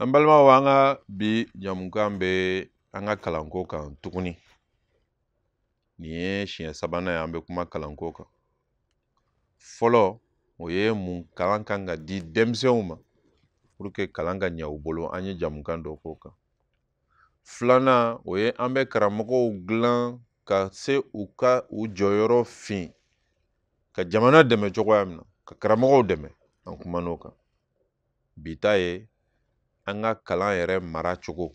an balimaw an ka bi jamukan bɛ an ka kalanko kan tuguni nin ye siɲɛ sabanan ye an bɛ kuma kalanko kan fɔlɔ o ye mun kalan kan ka di denmisɛnw ma pour que kalan ka ɲɛ u bolo an ye jamukan dɔ k'o kan filanan o ye an bɛ karamɔgɔw dilan ka se u ka u jɔyɔrɔ fin ka jamana dɛmɛ cogoya min na ka karamɔgɔw dɛmɛ an kumana o kan bi ta ye an ka kalan yɛrɛ maracogo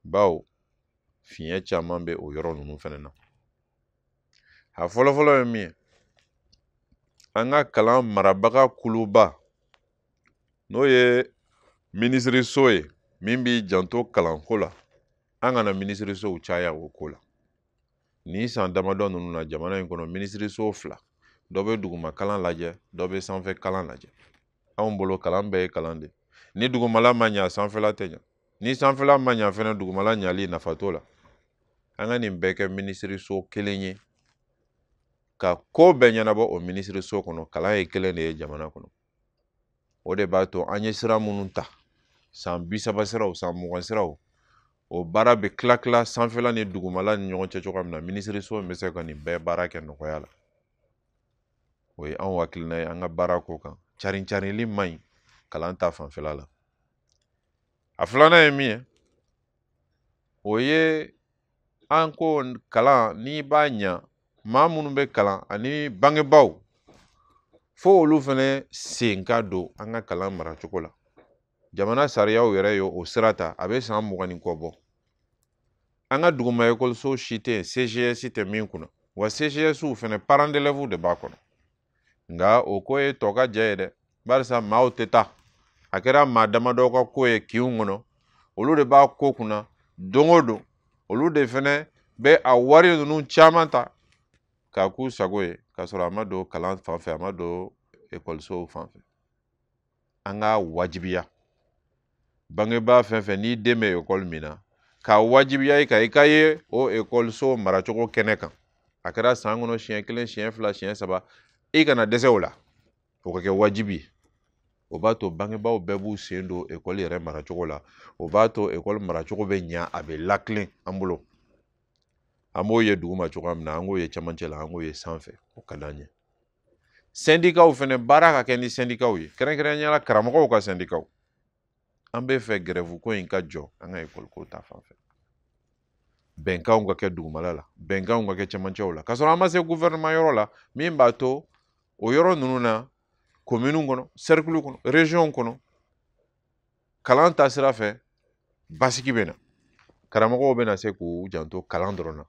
bawo fiɲɛ caman bɛ o yɔrɔ ninnu fana na a fɔlɔfɔlɔ ye min ye an ka kalan marabaga kuluba n'o ye minisiriso ye min b'i janto kalanko la an kana minisirisow caya o ko la nin san damadɔ ninnu na jamana in kɔnɔ minisiriso fila dɔ bɛ duguma kalan lajɛ dɔ bɛ sanfɛ kalan lajɛ anw bolo kalan bɛɛ ye kalan de ni dugumala ma ɲa sanfɛla tɛ ɲa ni sanfɛla ma ɲa fɛnɛ dugumala ɲali nafa t'o la an ka nin bɛɛ kɛ minisiriso kelen ye ka ko bɛɛ ɲɛnabɔ o minisiriso kɔnɔ kalan ye kelen de ye jamana kɔnɔ o de b'a to an ye sira minnu ta san bi saba siraw san mugan siraw o baara bɛ kila kila sanfɛla ni dugumala ni ɲɔgɔn cɛ cogoya min na minisiriso in bɛ se ka nin bɛɛ baara kɛ nɔgɔya la o ye anw hakilina ye an ka baara ko kana carin carinli man ɲi kalan ta fanfɛla la a filanan ye min ye o ye an ko kalan n'i b'a ɲa maa minnu bɛ kalan ani bangebaaw fo olu fɛnɛ sen ka don an ka kalan maracogo la jamana sariyaw yɛrɛ ye o sira ta a bɛ san mugan ni kɔ bɔ an ka duguma ekɔliso si tɛ yen cgs tɛ min kunna wa cgs fɛnɛ parents d'élèves de b'a kɔnɔ nka o ko ye tɔkajɛ ye dɛ barisa maaw tɛ taa a kɛra maa damadɔ ka ko ye kinw kɔnɔ olu de b'a ko kunna don o don olu de fɛnɛ bɛ a wari ninnu caman ta k'a k'u sago ye k'a sɔrɔ a ma don kalan fan fɛ a ma don ekɔlisow fan fɛ an k'a wajibiya bangebaa fɛn fɛn n'i den bɛ ekɔli min na k'a wajibiya i kan i ka ye o ekɔliso maracogo kɛnɛ kan a kɛra san kɔnɔ siɲɛ kelen siɲɛ fila siɲɛ saba i kana dɛsɛ o la o ka kɛ wajibi ye o b'a to bangebaaw bɛɛ b'u sen don ekɔli yɛrɛ maracogo la o b'a to ekɔli maracogo bɛ ɲa a bɛ lakilen an bolo an b'o ye duguma cogoya min na an k'o ye cɛmancɛ la an k'o ye sanfɛ o ka d'an ye sɛndikaw fɛnɛ baara ka kɛ ni sɛndikaw ye kɛrɛnkɛrɛnnenya la karamɔgɔw ka sɛndikaw an bɛ fɛ gɛrɛfu ko in ka jɔ an ka ekɔli ko ta fan fɛ bɛnkanw ka kɛ dugumala la bɛnkanw ka kɛ cɛmancɛw la k'a sɔrɔ an ma se guvɛrɛnɛman yɔrɔ la min b'a to o yɔrɔ ninnu na kominiw kɔnɔ sɛrikulu kɔnɔ reziyɔnw kɔnɔ kalan ta sira fɛ basigi bɛ na karamɔgɔw bɛna se k'u janto kalan dɔrɔn na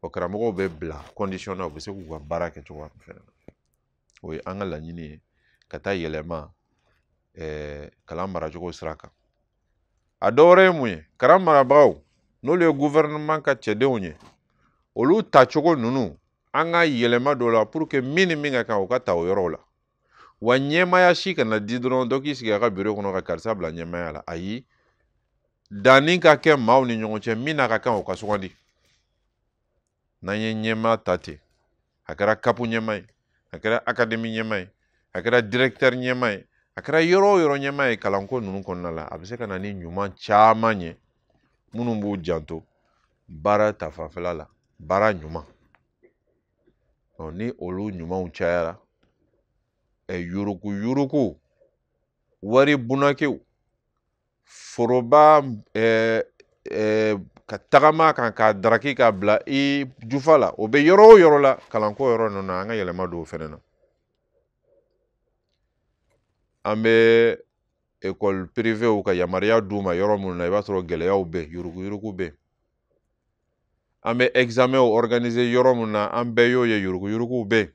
o karamɔgɔw bɛ bila kɔndisiyɔn na u bɛ se k'u ka baara kɛ cogoya min fɛnɛ na o ye an ka laɲini ye ka taa yɛlɛma ɛɛ kalan maracogo sira kan a dɔ wɛrɛ ye mun ye kalan marabagaw n'olu ye gufɛrɛnaman ka cɛdenw ye olu tacogo ninnu an ka yɛlɛma don o la pour que min ni min ka kan u ka ta o yɔrɔw la wa ɲɛmaya si kana di dɔrɔn dɔ k'i sigi a ka biro kɔnɔ ka karisa bila ɲɛmaya la ayi danni ka kɛ maaw ni ɲɔgɔn cɛ min n'a ka kan o ka sugandi n'an ye ɲɛma ta ten a kɛra kapu ɲɛma ye a kɛra akademi ɲɛma ye a kɛra direktɛri ɲɛma ye a kɛra yɔrɔ o yɔrɔ ɲɛma ye kalanko ninnu kɔnɔna la a bɛ se ka na ni ɲuman caman ye minnu b'u janto baara ta fanfɛla la baara ɲuman ni olu ɲumanw cayara ɛ yuruguyurugu wari bunakiw foroba ɛɛ k'a ta jama kan k'a daraki k'a bila i jufa la o bɛ yɔrɔ o yɔrɔ la kalanko yɔrɔ ninnu na an ka yɛlɛma don o fɛnɛ na an bɛ ekɔli pirivew ka yamaruya d'u ma yɔrɔ minnu na i b'a sɔrɔ gɛlɛyaw bɛ yen yuruguyurugu bɛ yen an bɛ examen organiser yɔrɔ min na an bɛɛ y'o ye yuruguyuruguw bɛ yen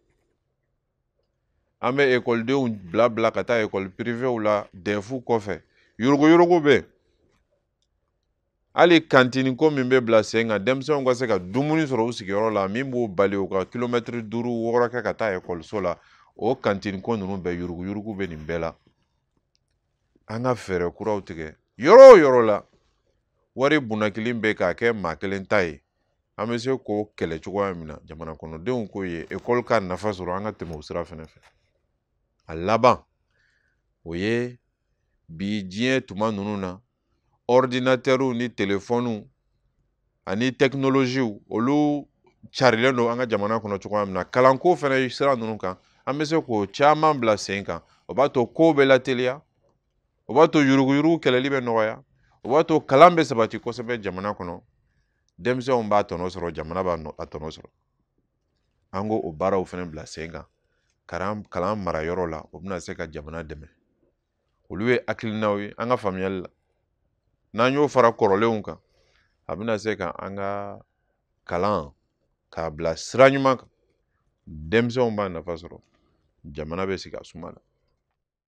an bɛ ekɔlidenw bila bila ka taa ekɔli pirivew la dɛfu kɔfɛ yuruguyurugu bɛ yen hali kantini ko min bɛ bila sen kan denmisɛnw ka se ka dumuni sɔrɔ u sigiyɔrɔ la min b'u bali u ka kilomɛtiri duuru wɔɔrɔ kɛ ka taa ekɔliso la o kantini ko ninnu bɛɛ yuruguyurugu bɛ nin bɛɛ la an ka fɛɛrɛ kuraw tigɛ yɔrɔ o yɔrɔ la wari bunakili bɛ k'a kɛ maa kelen ta ye an bɛ se k'o kɛlɛ cogoya min na jamana kɔnɔdenw k'o ye ekɔli ka nafa sɔrɔ an ka tɛmɛ o sira fɛnɛ fɛ a laban o ye bi diɲɛ tuma ninnu na ɔridinatɛriw ni telefɔniw ani tɛkinoloziw olu carilen don an ka jamana kɔnɔ cogoya min na kalanko fɛnɛ sira ninnu kan an bɛ se k'o caman bila sen kan o b'a to kow bɛ lateliya o b'a to yuruguyurugu kɛlɛli bɛ nɔgɔya o b'a to kalan bɛ sabati kosɛbɛ jamana kɔnɔ denmisɛnw b'a tɔnɔ sɔrɔ jamana b'a tɔnɔ sɔrɔ an k'o o baaraw fɛnɛ bila sen kan kalan kalan marayɔrɔ la o bɛna se ka jamana dɛmɛ olu ye hakilinaw ye an ka faamuyali la n'an y'o fara kɔrɔlenw kan a bɛna se ka an ka kalan k'a bila sira ɲuman kan denmisɛnw b'a nafa sɔrɔ jamana bɛ sigi a suma na